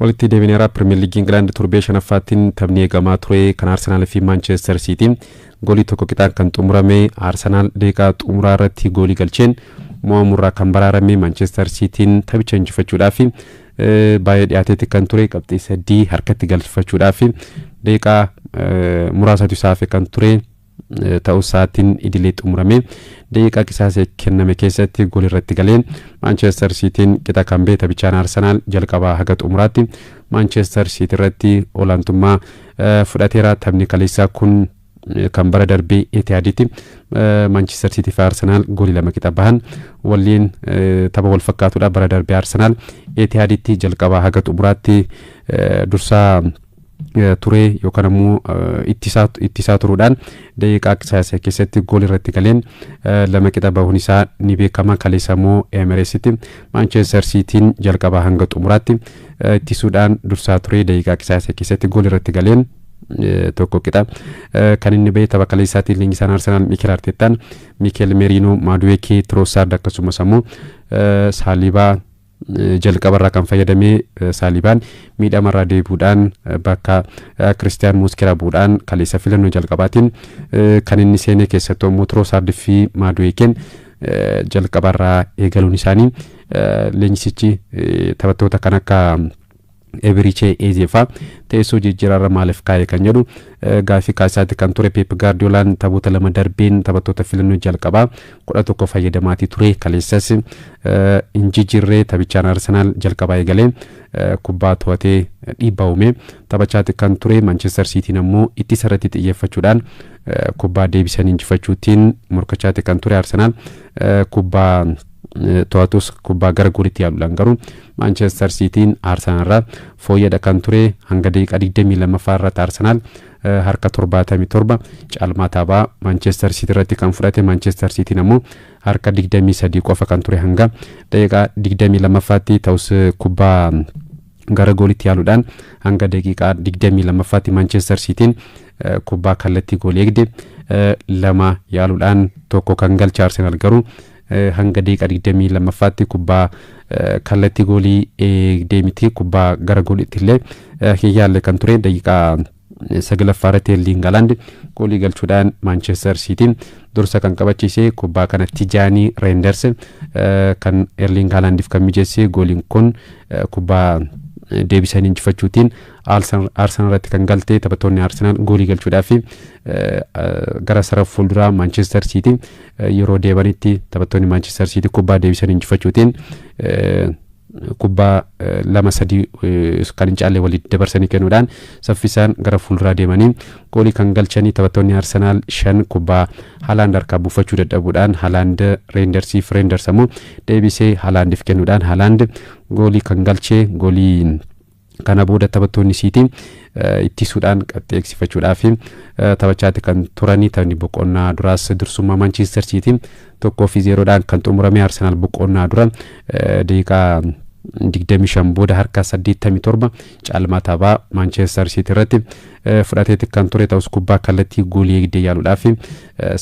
Walitti deebineera Pirimeer Liigii Ingilaand torbee shanaffaattiin taphni eegamaa ture kan Arsenaal fi Maanchester Siitii goolii tokko qixaan kan xumurame Arsenaal deeqaa xumuraa irratti goolii galcheen mo'amurraa kan baraarame Maanchester Siitiin taphicha injifachuudhaaf baay'ee dhiyaateetti kan ture qabxii sadii harkatti galfachuudhaaf deeqaa muraasatu isaa hafe kan ture. ta'usaatiin idilee xumuramee daqiiqaa qisaasee kenname keessatti gool irratti galee Maanchestar Siitiin qixa kan ba'e taphichaan Arsenaal jalqabaa haga xumuraatti Maanchestar Siitii irratti olaantummaa fudhateera taphni kaleessaa kun kan bara darbee Etihaaditti Maanchestar Siitii fi Arsenaal goolii lama qixa bahan waliin tapha wal fakkaatudha bara darbee Arsenaal Etihaaditti jalqabaa haga xumuraatti dursaa turee yookaan ammoo ittisaa ittisaa turuudhaan daqiiqaa qisaasa keessatti gool irratti galeen lama qixa bahuun isaa ni beekama kaleessa immoo Emereesitti Maanchester Siitiin jalqabaa hanga xumuraatti ittisuudhaan dursaa turee daqiiqaa qisaasa keessatti gool irratti galeen tokko qixa kan inni ba'e tapha kaleessaatiin leenjisaan Arsenaal Mikel Arteettaan Mikel Merino Maaduweekee Tiroosaard akkasumas ammoo Saalibaa Jalqabarraa kan fayyadame Saalibaan miidhamarraa deebi'uudhaan bakka Kiristiyaan Mooskera bu'uudhaan kaleessa filannoo jalqabaatiin kan inni seenee keessattuu ammoo Tiroosaard fi Maaduweekeen jalqabarraa eegaluun isaanii leenjisichi taphattoota kan akka Eberichee Eezee faa teessoo jijjiiraarra maaliif kaa'e kan jedhu gaaffii kaasaatti kan ture Peep Gaardiyoolaan taphoota lama darbeen taphattoota filannoo jalqabaa kudha tokko fayyadamaatii ture kaleessas hin jijjiirree taphichaan Arsenaal jalqabaa eegalee kubbaa to'atee dhiibbaa uume taphachaatti kan ture Manchester Siitiin ammoo ittisa irratti xiyyeeffachuudhaan kubbaa deebisan injifachuutiin morkachaatti kan ture Arsenaal kubbaa to'atus kubbaa gara goolitti yaaluudhaan garuu Maanchester Siitiin Arsenaal irraa fooyyadha kan ture hanga daqiiqaa 22ffaa irratti Arsenaal harka 77 caalmaa taphaa Maanchester Siitii irratti kan fudhate Maanchester Siitiin ammoo harka 23 qofa kan ture hanga daqiiqaa 22ffaatti ta'us kubbaa gara goolitti yaaluudhaan hanga daqiiqaa 22ffaatti Maanchester Siitiin kubbaa kallattii goolii eegde lama yaaluudhaan tokko kan galche Arsenaal garuu hanga deeqa 22ffaatti kubbaa kallattii goolii eegdee miti kubbaa gara gooliitti illee hin yaalle kan ture daqiiqaa saglaffaa irratti Erliing Halaand goolii galchuudhaan Maanchester Siitiin dursa kan qabachiise kubbaa kana Tijaanii Reenders kan Erliing Halaandiif kan mijeesse gooliin kun kubbaa deebisanii injifachuutiin Arsenal irratti kan galte taphattoonni Arsenal goolii galchuudhaaf gara sarara fuulduraa Maanchester Siitii yeroo deebanitti taphattoonni Maanchister Siitii kubbaa deebisan injifachuutiin kubbaa lama sadii kan hin caalle walitti dabarsanii kennuudhaan saffisaan gara fuulduraa deemanii goolii kan galchanii taphattoonni Arsenaal shan kubbaa Halaand harkaa buufachuu dadhabuudhaan Halaand Reendersiif Reenders ammoo deebisee Halaandiif kennuudhaan Halaand goolii kan galchee goolii Kana booda taphattoonni Siitii ittisuudhaan qabxii eegsifachuudhaaf taphachaatti kan turanii taphni boqonnaa duraas dursummaa Maanchiistar Siitii tokkoo fi zeeroodhaan kan xumurame Arsenaal boqonnaa dura daqiiqaa 25 booda harka 87 caalmaa taphaa Maanchiistar Siitii irratti fudhateetti kan ture ta'us kubbaa kallattii goolii eegdee yaaluudhaaf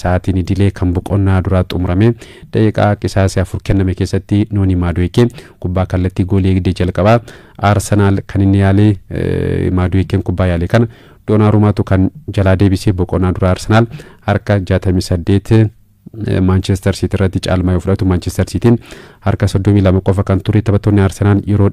sa'aatiin idilee kan boqonnaa duraa xumurame daqiiqaa qisaasee afur kenname keessatti Noonii Maaduweekee Kubbaa kallattii goolii eegdee jalqabaa Arsenaal kan inni yaale Maaduweekeen kubbaa yaale kana Doonaarumaatu kan jalaa deebisee boqonnaa dura Arsenaal harka 68 Maanchestar Siitii irratti caalmaa yoo fudhatu Maanchestar Siitiin harka 32 qofa kan ture taphattoonni Arsenaal yeroo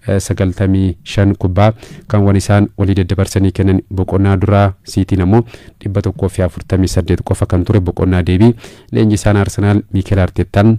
295 kubbaa kan waan isaan walii daddabarsanii kennan boqonnaa duraa Siitiin ammoo 148 qofa kan ture boqonnaa deebii leenjisaan Arsenaal Miikeel Arteettaan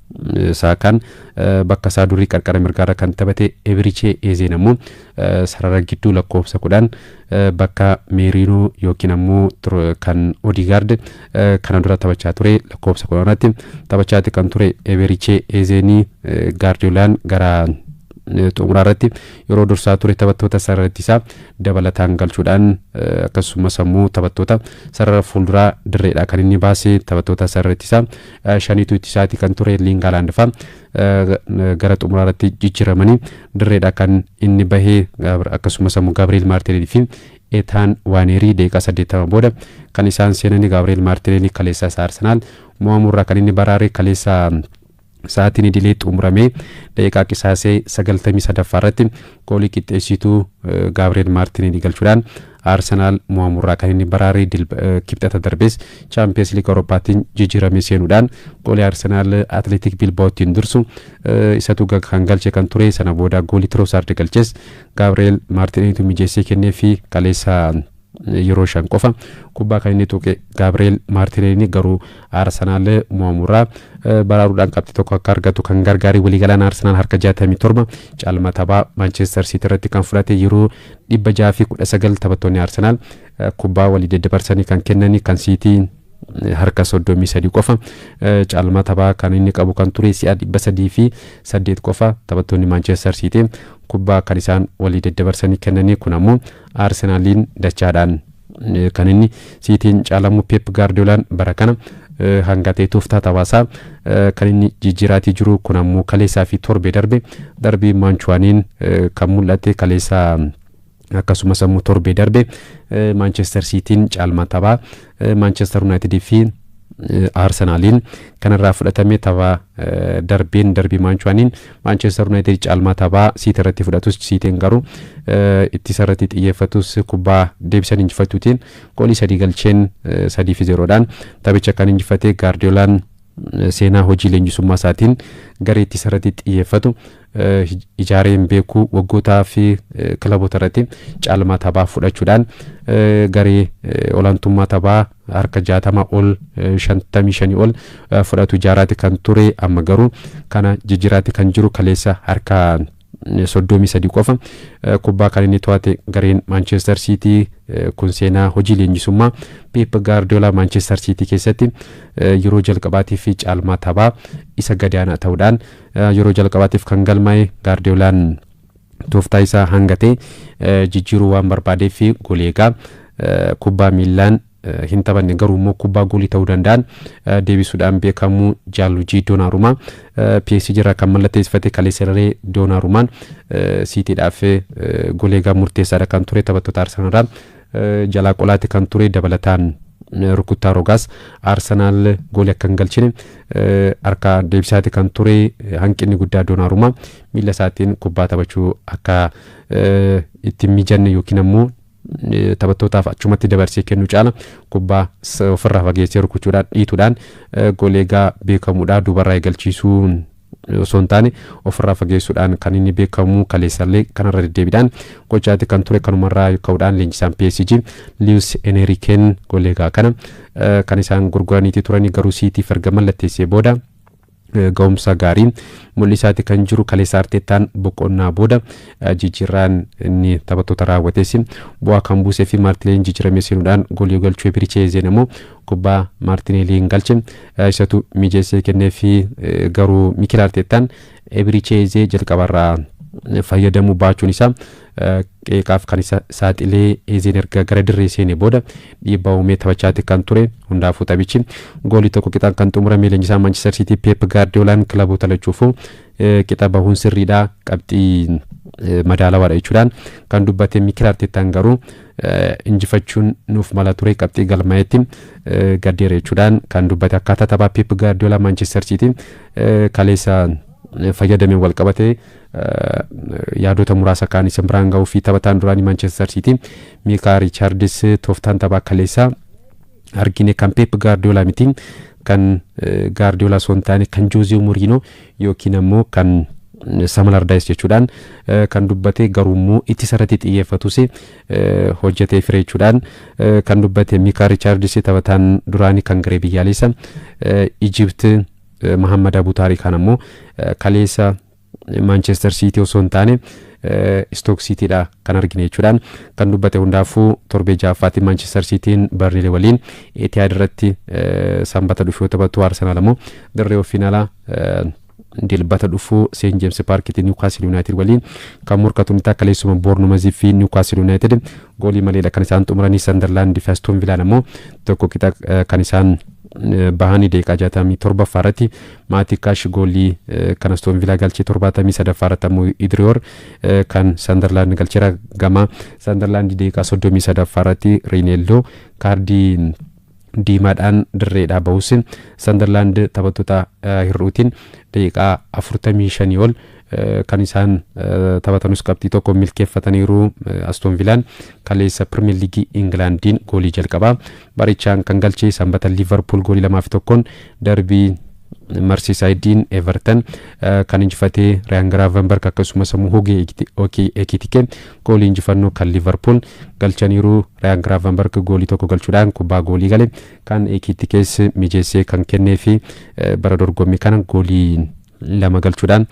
Saakaan bakka isaa durii qarqara mirgaarra kan taphate Ebirichee Eezeen ammoo sarara gidduu lakkoofsa kudhan bakka Meeriinoo yookiin ammoo kan Odigaard kana dura taphachaa ture lakkoofsa kudhan irratti taphachaatti kan ture Ebirichee Eezeenii Gaardiyoolaan gara xumuraa irratti yeroo dursaa ture taphattoota sarara ittisaa dabalataan galchuudhaan akkasumas ammoo taphattoota sarara fuulduraa dirreedhaa kan inni baase taphattoota sarara ittisaa shaniitu itti isaati kan ture Liingaalaand fa'a gara xumuraa irratti jijjiiramanii dirreedha kan inni bahee akkasumas ammoo Gabriel Martinelli fi Etaan Waaneerii deeqaa 80 booda kan isaan seenanii Gabriel Martinelli kaleessaa isaa Arsenaal mo'amuurraa kan inni baraare kaleessaa sa'aatiin idilee xumuramee daqiiqaa qisaasee 93ffaa irratti Goolii qixxeessituu Gaabri'eel Maartineelii galchuudhaan Arsenaal mo'amurraa kan inni baraare Kibxata darbes Chaampiyeens Liiga Awurooppaattiin jijjiiramee seenuudhaan goolii Arsenaal Atleetik Bilbaa'oottiin dursu isatu kan galche kan ture sana booda goolii Tiroosaardi galches Gaabri'eel Maartineeliitu mijeessee kennee fi kaleessa yeroo shan qofa kubbaa kan inni tuqe Gaabireel Maartineelii garuu Arsenaal mo'amurraa baraaruudhaan qabxii tokko akka argatu kan gargaare waliigalaan Arsenaal harka 67 caalma taphaa Maanchester Siitii irratti kan fudhate yeroo 619 taphattoonni Arsenaal kubbaa walii daddabarsanii kan kennanii kan Siitii harka 33 qofa caalmaa taphaa kan inni qabu kan ture si'a 308 qofa taphattoonni Maanchester Siitii kubbaa kan isaan walii daddabarsanii kennanii kun ammoo Arsenaaliin dachaadhaan kan inni Siitiin caalamu Peep Gaardiyoolaan bara kana hanga ta'e tooftaa taphaasaa kan inni jijjiiraatii jiru kun ammoo kaleessaa fi torbee darbe darbii Maanchuwaaniin kan mul'ate kaleessaa akkasumas ammoo torbee darbe Maanchester Siitiin caalmaa taphaa Maanchestar Yuunaayitidii fi Arsenaaliin kanarraa fudhatame tapha darbeen darbii maanchuwaaniin Maanchestar Yuunaayitid caalmaa taphaa siiti irratti fudhatus siitiin garuu ittisa irratti xiyyeeffatus kubbaa deebisan injifachuutiin goolii sadii galcheen sadii fi zeeroodhaan taphicha kan injifate gaardiyoolaan seenaa hojii leenjisummaa isaatiin garee ittisa irratti xiyyeeffatu ijaaree hin beeku waggootaa fi kilaboota irratti caalmaa taphaa fudhachuudhaan garee olaantummaa taphaa harka jaatama ol shantamii shanii ol fudhatu ijaaraati kan ture amma garuu kana jijjiraati kan jiru kaleessa harka soddomii sadii qofa kubbaa kan inni to'ate gareen maanchestar siitii kun seenaa hojii leenjisummaa peep gaardiyoolaa maanchestar siitii keessatti yeroo jalqabaatiif caalmaa taphaa isa gadaanaa ta'uudhaan Yeroo jalqabaatiif kan galmaa'e Gaardiyoolaan tooftaa isaa hangatee jijjiiruu waan barbaadeef goolii eegaa kubbaa miillaan hin taphanne garuu immoo kubbaa goolii ta'uu danda'an deebisuudhaan beekamu Jaalujii Doonaarumaa PSG irraa kan mallatteessifate kaleesserree Doonaarumaan siitiidhaaf goolii eegaa murteessaadha kan ture taphattoota Arsenal irraa jalaa qolaati kan ture dabalataan rukuttaa rogaas Arsenaal goolii akka hin galchine harka deebisaati kan ture hanqinni guddaa Doonaarumaa miila isaatiin kubbaa taphachuu akka itti hin mijanne yookiin ammoo taphattootaaf achumatti dabarsee kennu caala kubbaa ofirraa fageessee rukuchuudhaan dhiituudhaan goleegaa beekamuudha dubarraa eegalchiisuun osoo hin taane ofirraa fageessuudhaan kan inni beekamu kaleessallee kanarra deddeebiidhaan gochaati kan ture kanumarraa ka'uudhaan leenjisaan PSG Liwus Eneriken goleegaa kana kan isaan gurguraniiti turanii garuu siitiif erga mallatteessee booda ga'umsa gaarii mul'isaati kan jiru kaleessa arteettaan boqonnaa booda jijjiirraan inni taphattoota raawwateessi bu'aa kan buusee fi maartileen jijjiiramee seenuudhaan goolii galchuu ebirichee zeen ammoo kubbaa Maartineeliin galche isatu mijeessee kenneefi garuu Mikel Arteettaan Ebiricheezee jalqabarraa fayyadamuu baachuun isaa qeeqaaf kan isa saaxilee Eezeen erga gara dirree seenee booda dhiibbaa uumee taphachaatti kan ture hundaafuu taphichi goolii tokko qixaan kan xumurame leenjisaa Maanchister Siitii Peep Gaardiyoolaan kilaboota lachuufuu qixa bahuun sirriidha qabxii madaalawaadha jechuudhaan kan dubbate Mikel Arteettaan garuu injifachuun nuuf mala ture qabxii galmaa'etti gaddeera jechuudhaan kan dubbate akkaataa taphaa Pep Gaardiyoola Maanchester Siitii kaleessa fayyadameen wal qabatee yaadota muraasa kaan isin biraan ga'uu fi taphataan duraanii Maanchester Siitii Miikaa Riichaardis tooftaan taphaa kaleessaa argine kan Pep Gaardiyoola miti kan Gaardiyoola osoo hin taane kan Joozee Moriinoo yookiin ammoo kan similar dice jechuudhaan kan dubbate garuu immoo ittisa irratti xiyyeeffatus hojjetee fire jechuudhaan kan dubbate Mikaa Richaardis taphataan duraanii kan garee biyyaalessa Ijipt Mahammad Abu Taarikaan ammoo kaleessa Maanchester Siitii osoo hin taane Istook Siitiidha kan argine jechuudhaan kan dubbate hundaafuu torbee ja'affaatti Maanchister Siitiin Barnilee waliin Etihaad irratti sanbata dhufu yoo taphatu Arsenaal ammoo dirree ofiin alaa dilbata dhufu Seen Jeemsi Paarkitti Niwukaastil Yuunaayitid waliin kan morkatu ni ta'a kaleessuma Boornumazii fi Niwukaastil Yuunaayitid goolii maleedha kan isaan xumuranii Sandarlaand fi Astoon Vilaan ammoo tokko qixa kan isaan bahanii deeqaa jaatamii torbaffaa irratti maatii kaash goolii kan Astoon Vilaa galchee torbaatamii sadaffaa irratti ammoo Idiriyoor kan Sandarlaand galcheera gama Sandarlaand daqiiqaa soddomii sadaffaa irratti Riineelloo kaardii diimaadhaan dirreedhaa bahus Sandarlaand taphattoota hir'uutiin daqiiqaa afurtamii shanii ol kan isaan taphatanus qabxii tokko milkeeffataniiru Astoon Vilaan kaleessa Pirimeer Liigii Ingilaandiin goolii jalqabaa Barichaan kan galche Sanbata Liivarpuul goolii lamaa fi tokkoon darbii Marsiisaayidiin Everton kan injifatee Riyaan Giraavenberg akkasumas immoo Hugee Ekitike goolii injifannoo kan Liivarpuul galchaniiru Riyaan Giraavenberg goolii tokko galchuudhaan kubbaa goolii gale kan Ekitikees mijeessee kan kennee fi bara dorgommii kana goolii lama galchuudhaan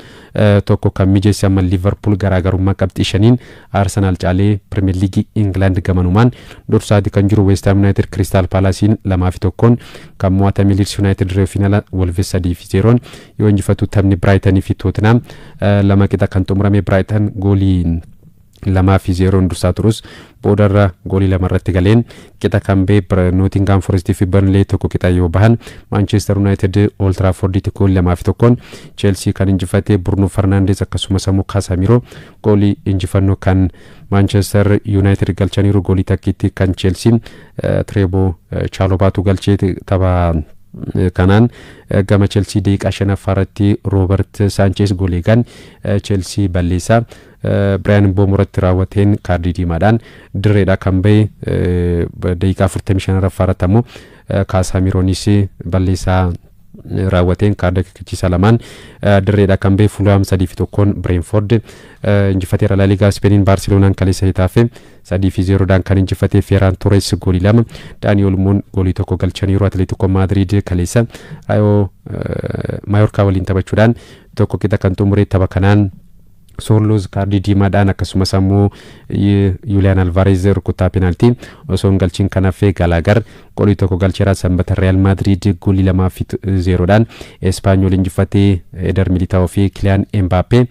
tokko kan mijeesse amma Liivarpuul garaagarummaa qabxii shaniin Arsenaal caalee Pirimeer Liigii Ingilaand gamanumaan dursaati kan jiru Weestaam Yuunaayitid Kiristaal Paalaasiin lamaa fi tokkoon kan mo'atame Liids Yuunaayitid Reew Fiinala Wolves sadii fi zeeroon yoo injifatu taphni Biraayitanii fi Tootinaa lama qixa kan xumurame Biraayitan gooliin lamaa fi zeeroon dursaa turus boodarra goolii lama irratti galeen qixa kan bee Nootingaam Forestii fi Barnlee tokko qixa yoo bahan Maanchester Yuunaayitid Ool Tiraafordiitti goolii lamaa fi tokkoon Cheelsii kan injifate Burnu Farnaandees akkasumas ammoo Kaasaamiiroo goolii injifannoo kan Maanchester Yuunaayitid galchaniiru goolii takkiitti kan Cheelsii Tireeboo Chaalobaatu galchee tapha kanaan gama Chelsii deeqaa shanaffaa irratti Roobert Saanchees goolii eegaan Chelsii balleessaa Biraayan Mboomo irratti raawwateen kaardii diimaadhaan dirreedhaa kan bahe daqiiqaa 45 raffaa irratti ammoo Kaasaa Miroonis balleessaa raawwateen kaarda akeekkachiisaa lamaan dirreedhaa kan bahe Fuulaam sadii fi tokkoon Bireenford injifateera Laaligaa Ispeeniin Baarseloonaan kaleessa Hetaafee sadii fi zeeroodhaan kan injifate Feeraan Toores goolii lama Daanii Olmoon goolii tokko galchaniiru Atileetikoo Maadiriid kaleessa Raayoo Maayorkaa waliin taphachuudhaan tokko qixa kan xumure tapha kanaan Soorluuz kaardii diimaadhaan akkasumas ammoo Yuuliyaan Alvaareez rukuttaa penaaltii osoo hin galchin kan hafe Galaagar goolii tokko galcheera sanbata Riyaal Maadriid goolii lamaa fi zeeroodhaan Espaanyool injifatee Eder Militaa'oo fi Kiliyaan Embaappee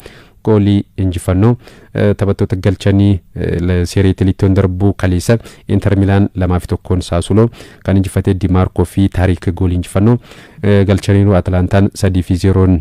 goolii injifannoo taphattoota galchanii seerii Italiittoon darbuu kaleessa Inter Milaan lamaa fi tokkoon Saasuloo kan injifatee Dimaarkoo fi Taariik goolii injifannoo galchaniiru Atalantaan sadii fi zeeroon